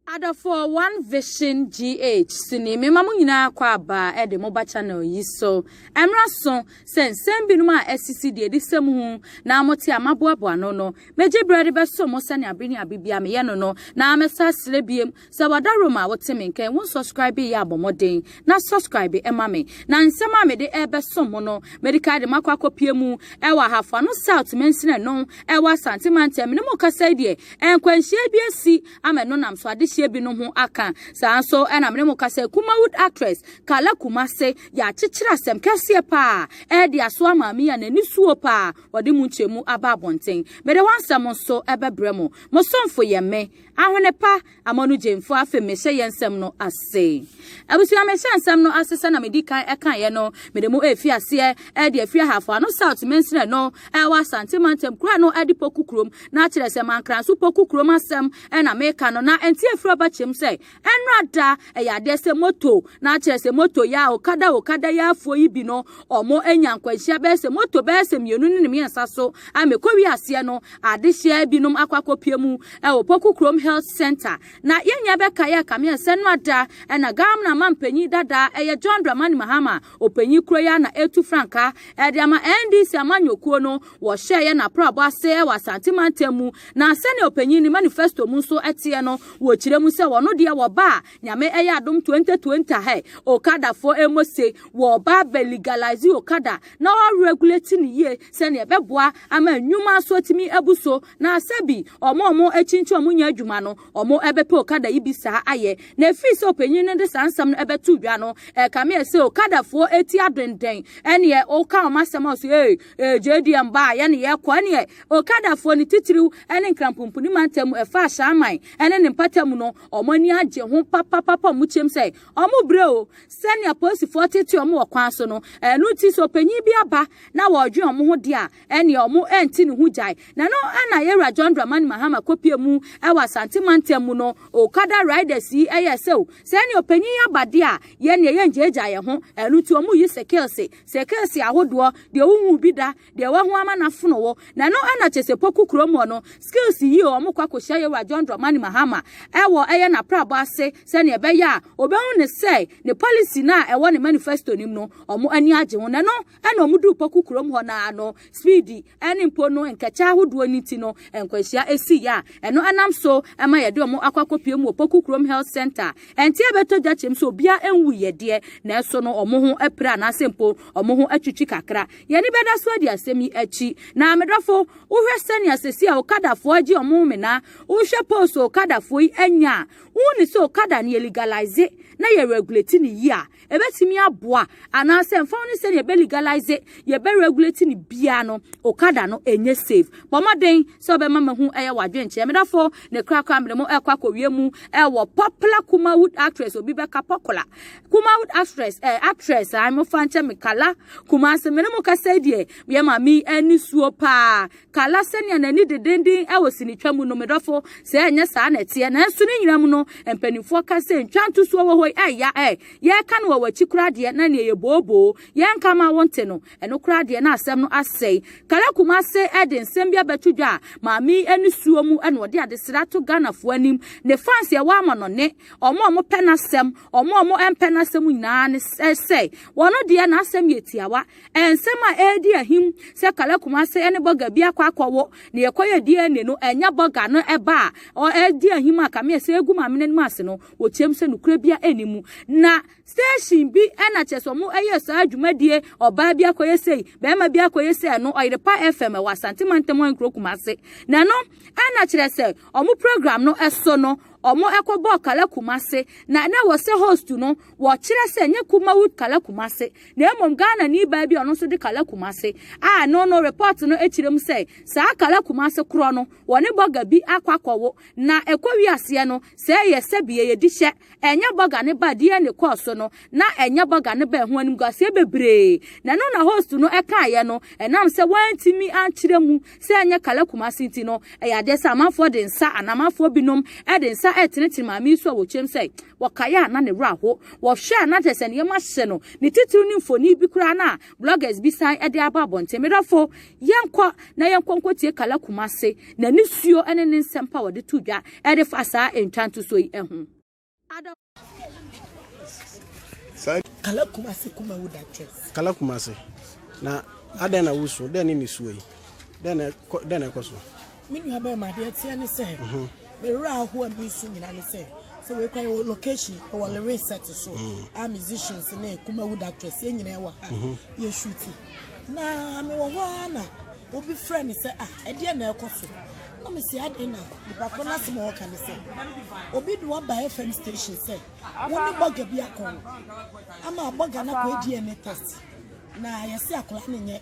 Adɔfoɔ one vision GH sini mema mo nyinaa kɔ aba de mo ba channel yi so ɛmra so sɛ nsɛm binom a asisi deɛ di sɛ muhu na mote a maboaboa ano no megye berɛ de bɛso mo sɛnea bere ne abe bia meyɛ no no na mɛsa srɛ biom sɛ wada rome a wote me nkɛn wo nsɔscribe yɛ abɔ mɔden na sɔscribe ɛma me na nsɛm a mede ɛbɛso mo no medical de makɔ akɔpie mu ɛwɔ Ahafo Ano South mansini ɛno ɛwɔ Asante mantam ne mo kasa yi deɛ Nkwanhyia bi asi ama ɛno nam so adehyeɛ bi no ho aka. Saa nso na mene mo ka sɛ Kumawood actress Carla Kumase yɛ akyekyere asɛm kɛseɛ paa ɛde aso ama me a n'ani suo paa ɔde mu nkyerɛmu aba abɔnten. Mede hɔ nsɛm nso bɛbrɛ mo. Mo somfo yɛ me. Ahwene pa, Amanu Gyamfo, afei mehyɛ yɛn nsɛm no ase. Abusua, me hyɛ nsɛm no ase sɛ na me di kan ɛkaeɛ no, me de mo ɛrefi aseɛ ɛde afiri Ahafo Ano South mansini no ɛwɔ Asante mantam kura no ɛde Poku kurom na akyerɛ sɛ Mankranso Poku kurom asɛm ɛna me reka no na ɛnte afiri ɔba kyɛm sɛ ɛnora da ɛyɛ adeɛ sɛ moto na akyerɛ sɛ moto yɛ a okada okada yɛ afoɔ yi bi no ɔmo anya nkwanhyia bɛyɛ sɛ moto bɛyɛ sɛ mmienu ne ne mmiɛnsa so a mekɔ wie aseɛ no adehyeɛ binom akɔ akɔpie mu ɛwɔ Poku kurom health center Na yɛn nua bɛka yɛ kameɛ sɛ no ada na Gamna mampanyin dada ɛyɛ John Dramani Mahama ɔpanyin kuro yi a na ɛretu frankaa ɛde ama NDC amanyɔkuo no wɔhyɛɛ yɛ naprabɔ ase ɛwɔ Asante mantam mu na sɛnea ɔpanyin ne manifesto mu nso ɛteɛ no wɔkyerɛ mu sɛ wɔno deɛ wɔba a nyame ɛyɛ adom 2020 hɛ okadafoɔ ɛmɔ se wɔba bɛ legalize okada na ɔregulate ne yie sɛnea ɛbɛboa ama nnwuma nso atumi abu so Na sɛ bi ɔmo a ɔmo akyinkyin ɔmo nyɛ adwuma no, ɔmo bɛpɛ okada yi bi saa ayɛ. Na efii sɛ ɔpanyin no de saa nsɛm no bɛtoo dwa no, ɛkame yɛ sɛ okadafoɔ ti adenden. Ɛneɛ woka ɔmo asɛm a, ɔse ee, ee gyee deɛ mba a, yɛne yɛkɔ. Ɛneɛ okadafoɔ no titiriw ne Nkranpompuni mantam mu, ɛfa Ashaiman ne ne mpata mu no, ɔmo ani agye ho papapapa, ɔmo kyeam sɛ ɔmo brɛ o. Sɛnea apolisifoɔ tetee ɔmo wɔ kwan so no, ɛno nti sɛ ɔpanyin bi aba na wɔredwen ɔmo ho deɛ a, ɛneɛ ɔmo ɛnte ne ho gyae. Na no na Yɛwura John Dramani Mahama kɔpie mu ɛwɔ Asante mantam mu no, Okada riders yi ɛyɛɛ sɛ o, sɛ ɛneɛ ɔpanyin yi aba deɛ a, yɛneɛ yɛngyaagyaa yɛn ho, ɛno nti ɔmo yi sekelse, sekelse ahodoɔ, deɛ wonhuu bi da, deɛ wahu ama no afono wo, na no na kyɛsɛ Poku kurom hɔ no, sekelse yi o, ɔmo kɔ akɔhyia Yɛwura John Dramani Mahama ɛwɔ ɛyɛ n'aprabɔ ase sɛneɛ ɛbɛyɛ a, ɔbɛhu ne sɛ ne policy no a ɛwɔ ne manifesto no mu no, ɔmo ani agye ho, na no. Ɛna wɔn duu Poku kurom hɔ no ara no, speedi ne mpo no nkɛkyɛ ahodoɔ no nti no, nkwanhyia sii a ɛno nam so ma yɛde wɔn akɔ akɔpue mu wɔ Poku kurom Health Centre. Ɛnte abɛtɔ gya kyɛm sɛ obiara nwuiɛ deɛ, nanso no wɔn ho apira anaasɛ mpo wɔn ho atwitwi kakra. Yɛn ani bɛda so adi asɛm yi akyi. Na me dɔfo, wohwɛ sɛnea sɛsi a Okadafoɔ agye wɔn mmena, wohwɛ post a Okadafoɔ yi anya a, wonni sɛ Okada no yɛ legalize na yɛ regulate no yie a, ɛbɛtumi aboa anaasɛ mfa ho ne sɛ yɛbɛ legalize yɛbɛ regulate ne biara no okada no ɛnyɛ safe bɔ mmɔden sɛ ɔbɛma ma ho ɛyɛ wadwenkyerɛ medafo ne korakora mene mo ɛkɔ akɔwie mu ɛwɔ popular kumawood actress obi bɛka popular kumawood actress eh, actress a mofa nkyɛ mekala kumase mene mo kasa deɛ yɛ ma me ani suo paa Kala sɛnea n'ani dedennden wɔ sinitwa mu no, me dɔfo, sɛ ɛnyɛ saa na ɛteɛ. Nanso ne nyinaa mu no, mpanimfoɔ ka sɛ ntwa ntosoɔ wɔ hɔ yi ɛyɛ a ɛ, yɛreka no wɔ w'akyi koraa deɛ na neɛ yɛ booboo, yɛrenka mma wonte no. Ɛno koraa deɛ na asɛm no asɛe. Kala Kumase de nsɛm bi abɛto dwa a maame yi ani suo mu na ɔde adesrɛ ato Ghanafoɔ anim. Ne fans a ɛwɔ ama no ne wɔn a wɔpɛ n'asɛm, wɔn a wɔmpɛ n'asɛm nyinaa ne sɛ wɔn deɛ n'asɛm yɛ tiawa. Nsɛm a ɛredi ahim sɛ Kala Kumase ne Burger bi akɔ akɔwo na yɛkɔyɛ DNA no, ɛnyɛ Burger no ba a ɔredi ahim a kame sɛ egu m'amena no mu ase no, wɔteam sɛ nokorɛ biara nni mu. Na station bi na kyerɛ sɛ wɔyɛɛ saa dwumadie, ɔbaa bi akɔyɛ sei, barima bi akɔyɛ sei, ɛno Ɔyerepa FM ɛwɔ Asante Mantam Ankuro Kumase. Na ɛno na kyerɛ sɛ wɔn program no so no, wɔkɔbɔɔ Kala Kumase na na ɛwɔ sɛ host no wɔkyerɛ sɛ nyɛ Kumawood Kala Kumase na mmom Ghanani baa bi a ɔno nso de Kala Kumase a ɛno no report no kyerɛ mu sɛ saa Kala Kumase korɔ no wɔne bɔga bi akɔ akɔwo na ɛkɔ wi aseɛ no sɛ ɛyɛ sɛ bie yɛdi hyɛ ɛnyɛ bɔga ne ba DNA kɔɔ so no na ɛnyɛ bɔga ne ba ɛho animguaseɛ bebree na ɛno na host no ɛkaeɛ no ɛnam sɛ wɔantumi ankyerɛ mu sɛ ɛnyɛ Kala Kumase nti no ɛyɛ adeɛ sɛ amanfoɔ de nsa anaa amanfoɔ binom de nsa ɛtenetene maame yi so a wɔkyerɛm sɛ wɔkae a na ne werɛ ahow. Wɔhwɛ a na kyerɛ sɛ nneɛma ahyɛ no. Ne titiriw ne mfoni bi koraa no a bloggers bi san de aba abɔnten. Me dɔfo, yɛnkɔ na yɛnkɔ nkotie Kala Kumase, n'ani suo ne ne nsɛm pa a ɔde to dwa de fa saa ntwa ntosoɔ yi ho. Ada. Kala Kumase kuma wo da kyɛ. Kala Kumase, na adɛn na wusu? Dɛn ne ne suo yi? Dɛn na ɛkɔ so? Me nua bɛrima deɛ ɛteɛ ne sɛ me werɛ ahoɔ a mesu nyina ne sɛ sɛ wei kwan wɔ location ɛwɔ lewe set so a musicians ne kumawu doctors yɛ nyina ɛwɔ ha yɛ shuti na mewɔ hɔ a na obi frɛ me sɛ ah ɛdeɛ na ɛkɔ so na mesi aden na nipa koro no asɛm a ɔka ne sɛ obi de waba fm station sɛ wo ne bɔga bi akɔ ama bɔga no akɔ dna test na yɛse akora ne nyɛ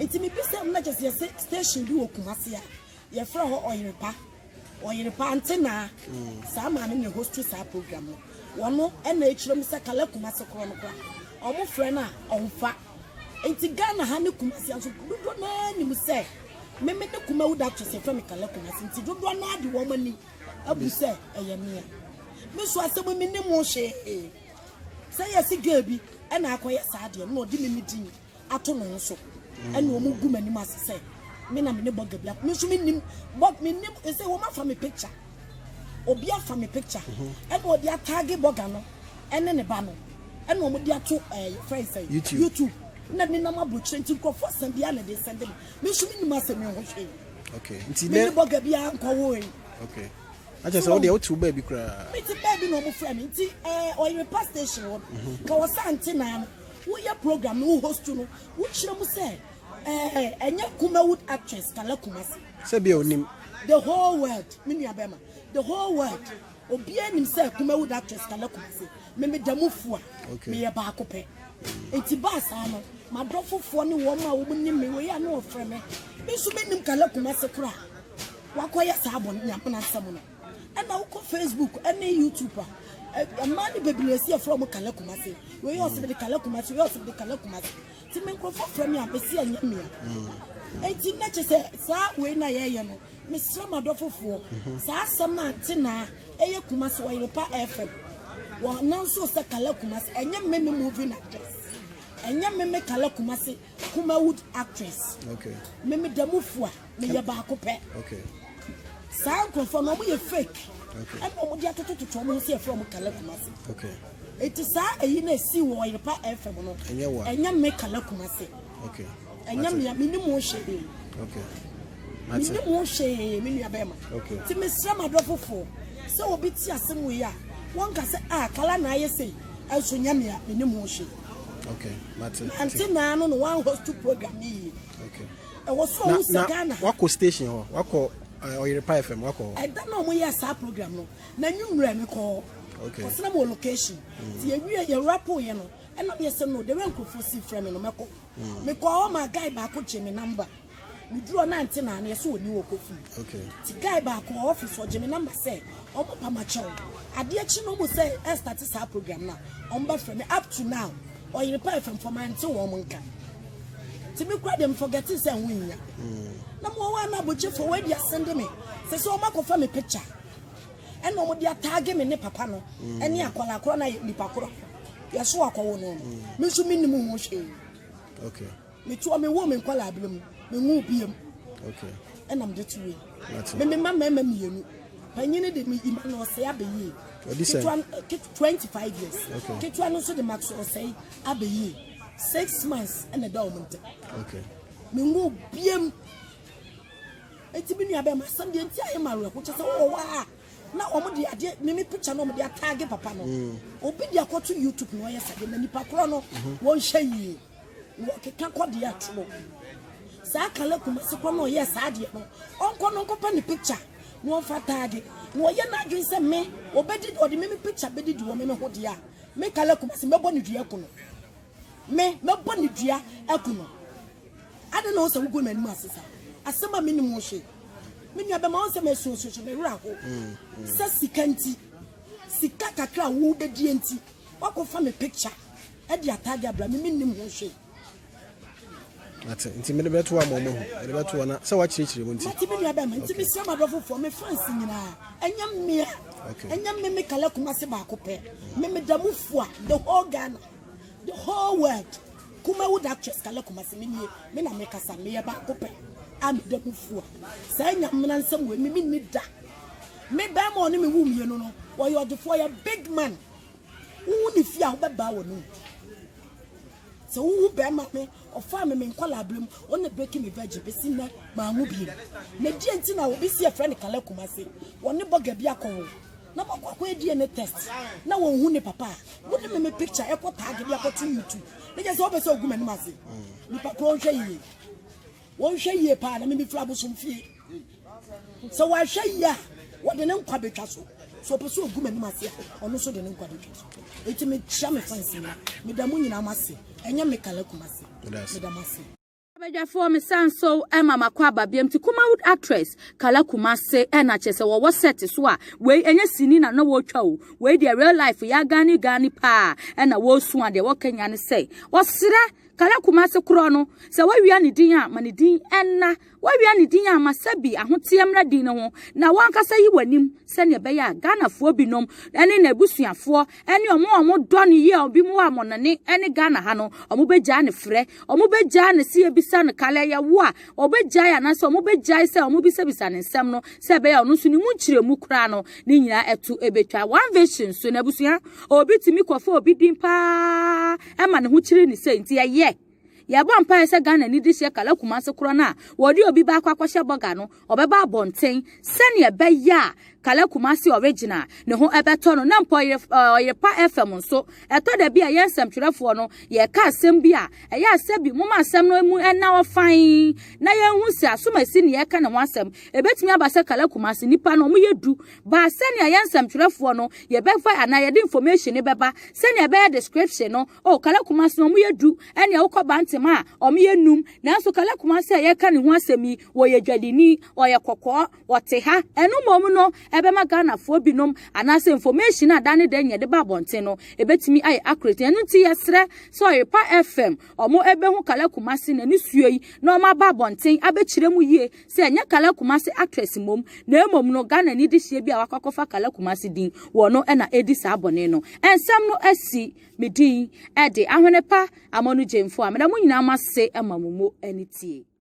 Nti mebisa mu na kyɛ sɛ yɛsɛ station bi wɔ Kumasi a yɛfrɛ hɔ Ɔyerepa Ɔyerepa Antenaa saa maame na hosti saa program no wɔno ɛna ɛkyerɛ mu sɛ kala Kumasi korɔ no kora ɔmo frɛ no a ɔmfa nti Ghana ha ne Kumasi nso dodoɔ no ara nim sɛ meme ne kuma wo dato sɛ fɛ me kala Kumasi nti dodoɔ no ara de wɔn ani abu sɛ ɛyɛ mea me nso asɛm me ne mo hwee sɛ yɛsi girl bi ɛna akɔyɛ saa deɛ no na ɔde me me din ato me ho so ɛna wɔn gu m'anim ase sɛ me na me ne bɔga bi me nso me nim bɔ me nim ɛsɛ wɔn afa me picture obi afa me picture mhm. ɛna wɔde ataage bɔga no ɛne ne ba no ɛna wɔn de ato ɛɛ fɛn sɛ youtube na ne nam abɔkyerɛ nti nkurɔfoɔ asɛm bi a na de nsɛm de me me nso me nim asɛm mi ho hwee nti ne ne bɔga bi a nkɔwɔ yi. akyɛ sɛ wodeɛ wotew baabi koraa mete baabi na ɔmo frɛ me nti ɔyere pa station hɔ ka wɔ sɛ ante naa no Woyɛ program no wo host no wo kyerɛ mu sɛ ɛɛ ɛnyɛ Kumawud actress Kala Kumasi. Sɛ bia onim. The whole world me nua bɛma the whole world obiara nim sɛ Kumawud actress Kala Kumasi me me da mu fu a okay. meyɛ baako pɛ nti baa saa no madɔfofoɔ ne wɔn a wɔn nim me wei a na wɔfrɛ me me nso me nim Kala Kumasi koraa wakɔyɛ saa bɔ nyamena nsɛm no. ɛna wokɔ facebook ɛne youtube a ɛmaa ne bebree si ɛfrɛ ɔmo kala kumase wei yɛ ɔsɛbɛde kala kumase wei yɛ ɔsɛbɛde kala kumase ti mi nkorɔfo frɛ mi a mesi ɛnyɛ mmea eti na kyɛ sɛ saa wei na yɛyɛ no mesrɛ ma dɔ fofoɔ saa asɛm na nte naa ɛyɛ kumase ɔyere pa ɛfɛm wɔn nanso sɛ kala kumase ɛnyɛ mmemme movie na dress ɛnyɛ mmemme kala kumase. Kumawood actress. Okay. Me me demu fua, me ye baako pɛ. Okay. Saa nkurɔfoɔ no wɔyɛ fake. Okay. Ɛna wɔn de atoto toto wɔn ho si ɛfrɛ wɔn kala kumase. Okay. Eti saa eyi na esi wɔ ɔyerepa ɛfɛm no. Ɛnyɛ wa. Ɛnyɛ me kala kumase. Okay. Ɛnyɛ me me ni mu ɔhyɛ de. Okay. Mate. Me ni mu ɔhyɛ yɛ me nua bɛrima. Okay. Ti me srɛ ma dɔ foforɔ sɛ obi ti ase mu yi a wɔn ka sɛ a ah, kala na ayɛ sɛ ɛnso nyɛ me a me ni mu ɔhyɛ. Okay, mate. Ante naa no na wɔn host program ni yie. Okay. Ɛwɔ so ɔwɔ sɛ Ghana. Wakɔ station hɔ, wakɔ Ɔyerepa eh, FM, wakɔ hɔ. Ɛda na wɔn yɛ saa program no, na nwummerɛ mi kɔ. Okay. Kɔsena mo location. Mm. Ti yɛ wie yɛ rapo yɛ no, ɛna mi yɛ sɛ no, de wɛ nkurɔfoɔ si fira mi no mɛkɔ. Mm. Mi kɔ hɔ ma guy baako gye mi namba. Me duru hɔ na nte na ano yɛ sɛ ɔni wɔ kɔ fie. Okay. Ti guy baako wɔ office ɔgye me number sɛ ɔmo pa ma kyɛw. Adeɛ kyi no ɔmo sɛ ɛstarte saa program na ɔmo bɛ frɛ me up to now ɔyere pa ɛfam fam ante wɔn mo nka. Ti me kura deɛ me forgeti sɛ ho nyia. Mm. Na mo ɔwɔ ana abɔkye fo wɔ adi asende me sɛ sɛ ɔmo akɔfa me picture ɛna ɔmo de ataage me ne papa no mm. ɛne akɔla korɔ na yɛ nipa korɔ yɛso akɔwo no mm. me nso me nim ho hwee. Okay. Metoɔ me woo me nkwadaa berɛ mu me nwoo bia mu ɛna mede to wei me me ma mmarima mmienu panyini de me ima na ɔsɛe abɛyie ketewa twenty five years ketewa no nso de ma ɔsɛe abɛyie six months ɛna ɛda wɔn ntɛm me nwoo bia mu eti mi nua bɛrima asɛm deɛ nti ayɛ ma awerɛho kyɛ sɛ wowɔ hɔ a na wɔn de adeɛ mimi picture na wɔn de ataage papa no mm. obi de akɔto youtube na ɔyɛ sɛ de na nipa korɔ no mm-hmm. wɔn hyɛ yie. wɔkeka kɔ deɛ ɛte no saa kala kumase kɔ na ɔyɛ saa deɛ no ɔnkɔ no nkɔpɛ ne picture na ɔmfa taage na ɔyɛ n'adwene sɛ me ɔbɛdi ɔde me me picture bɛdi di wɔ me me ho deɛ a me kala kumase mɛbɔ ne dua aku no me mɛbɔ ne dua aku no ade na wo sɛ wogu m'anim ase saa asɛm a menim wo hwee me nua bɛma wo sɛ masuasuasu me werɛ ho mm, mm. sɛ sika nti sika kakra a wobɛdie nti woakɔfa me picture Ɛde ataade abra me, mennim ho hwee. Ate nti mede bɛto wa mɔmɔ ho mede bɛto wa na sɛ wakyerɛkyerɛ mu nti. Mate me nua bɛma nti mesrɛ ma dɔfo fo me fans nyinaa ɛnyɛ mmea ɛnyɛ me me kala kuma se baako pɛ me me da mu fua the whole Ghana the whole world kuma wo da twes kala kuma se me nie me na me kasa me yɛ baako pɛ a me da mu fua saa nyamena nsɛm wɔ me me ni da me bɛma ɔne me wu mmienu no wɔyɛ ɔdefoɔ yɛ big man Wohu ne fie a wobɛbaa wɔ no mu. Sɛ wohu bɛrima pe, ɔfaa me me nkɔlaa berɛ mu, ɔno na breaki me virgin bɛsi nnɛ, manwo bio. Na deɛ nti na obi si ɛfrɛ no Kala Kumase, wɔne bɔga bi akɔwo, na moakɔ akɔyɛ DNA test, na wɔnhu ne papa a, mode me me picture ɛkɔ tag de akɔto YouTube, na kyerɛ sɛ wopɛ sɛ wogu m'anim ase? Nipa korɔ nhwɛ yie. Wɔnhwɛ yie paa na mimi firi abosom fie. Sɛ wɔahwɛ yie a, wɔde ne nkwa bɛtwa so. So ɔpɛ sɛ ɔgu m'anim ase a, ɔno nso de ne nkwa bɛtwa so. Enti mekyia me fans nyina. Meda mo nyinaa mo ase. Ɛnyɛ me kala Kumasi. Meda mo ase. Abadwafoɔ mesan so ma makɔ aba biam ti Kumawood actress Kala Kumase ɛna kyerɛ sɛ wɔwɔ set so a wei ɛnyɛ sini na na wɔretwa o wei deɛ real life yɛ agane gane paa ɛna wɔresu adeɛ wɔka nyina ne sɛ wɔserɛ Kala Kumasi korɔ no, sɛ woawia ne din a, ma ne din nna. Woawia ne din a, ma sɛ bi ahoteɛ mmra din no ho, na w'ankasa yi w'anim sɛdeɛ ɛbɛyɛ a Ghanafoɔ binom ne n'abusuafoɔ ne wɔn a wɔdɔ no yie a binom wɔ amɔnane ne Ghana ha no, wɔbɛgyae no frɛ. Wɔbɛgyae no sɛ yɛbisa no, Kala ɛyɛ wo a? Wɔbɛgyae anaasɛ wɔbɛgyae sɛ wɔbisabisa no nsɛm no sɛ ɛbɛyɛ a ɔno nso ne mu nkyerɛmu koraa no, ne nyinaa to bɛtwa. One Vision nso no, abusua, obi tumi kɔfa obi din paa. ɛma ne ho kyiri ne sɛ nti ɛyɛ yɛbɔ mpaeɛ sɛ Ghana ni de hyɛ kala kumase korɔ no a wɔde obi baako akɔhyɛ bɔga no ɔbɛba abɔnten sɛnea ɛbɛyɛ a kala kumase original ne ho ɛbɛtɔ no na mpo ɔyere pa fam nso ɛtɔ da bi a yɛn nsɛmtwerɛfoɔ no yɛka asɛm bi a ɛyɛ asɛ bi moma asɛm no mu ɛna ɔfan na yɛnhu sɛ asomasi ne yɛka ne ho asɛm ɛbɛtumi aba sɛ kala kumase nipa no ɔmo yɛ du baa sɛnea yɛn nsɛmtwerɛfoɔ no yɛbɛfa anaa yɛde information no bɛba sɛnea ɛbɛyɛ description no o kala kumase no wɔyɛ du ɛnea wokɔ bantem a wɔyɛ num nanso kala kumase a yɛka ne ho asɛm yi wɔyɛ dwadini ɔyɛ kɔkɔɔ wɔte ha ɛno mmom no ɛbɛma ghanafoɔ binom anaasɛ information a da ne da nyɛ de ba abɔnten no ɛbɛtumi ayɛ accurate ɛno nti yɛsrɛ sɛ ɔyepa fm wɔn ɛbɛhu kala kumase na ne suo yi na wɔn aba abɔnten abɛkyerɛ mu yie Sɛ ɛnyɛ Kala Kumasi actress mmom na mmom no Ghanani dehyeɛ bi a wakɔ akɔfa Kala Kumasi din wɔ no na ɛredi saa bɔne no. Nsɛm no asi me din de Ahwenepa Amanu Gyemfo a meda mo nyinaa mo ase ma mo mu anitie.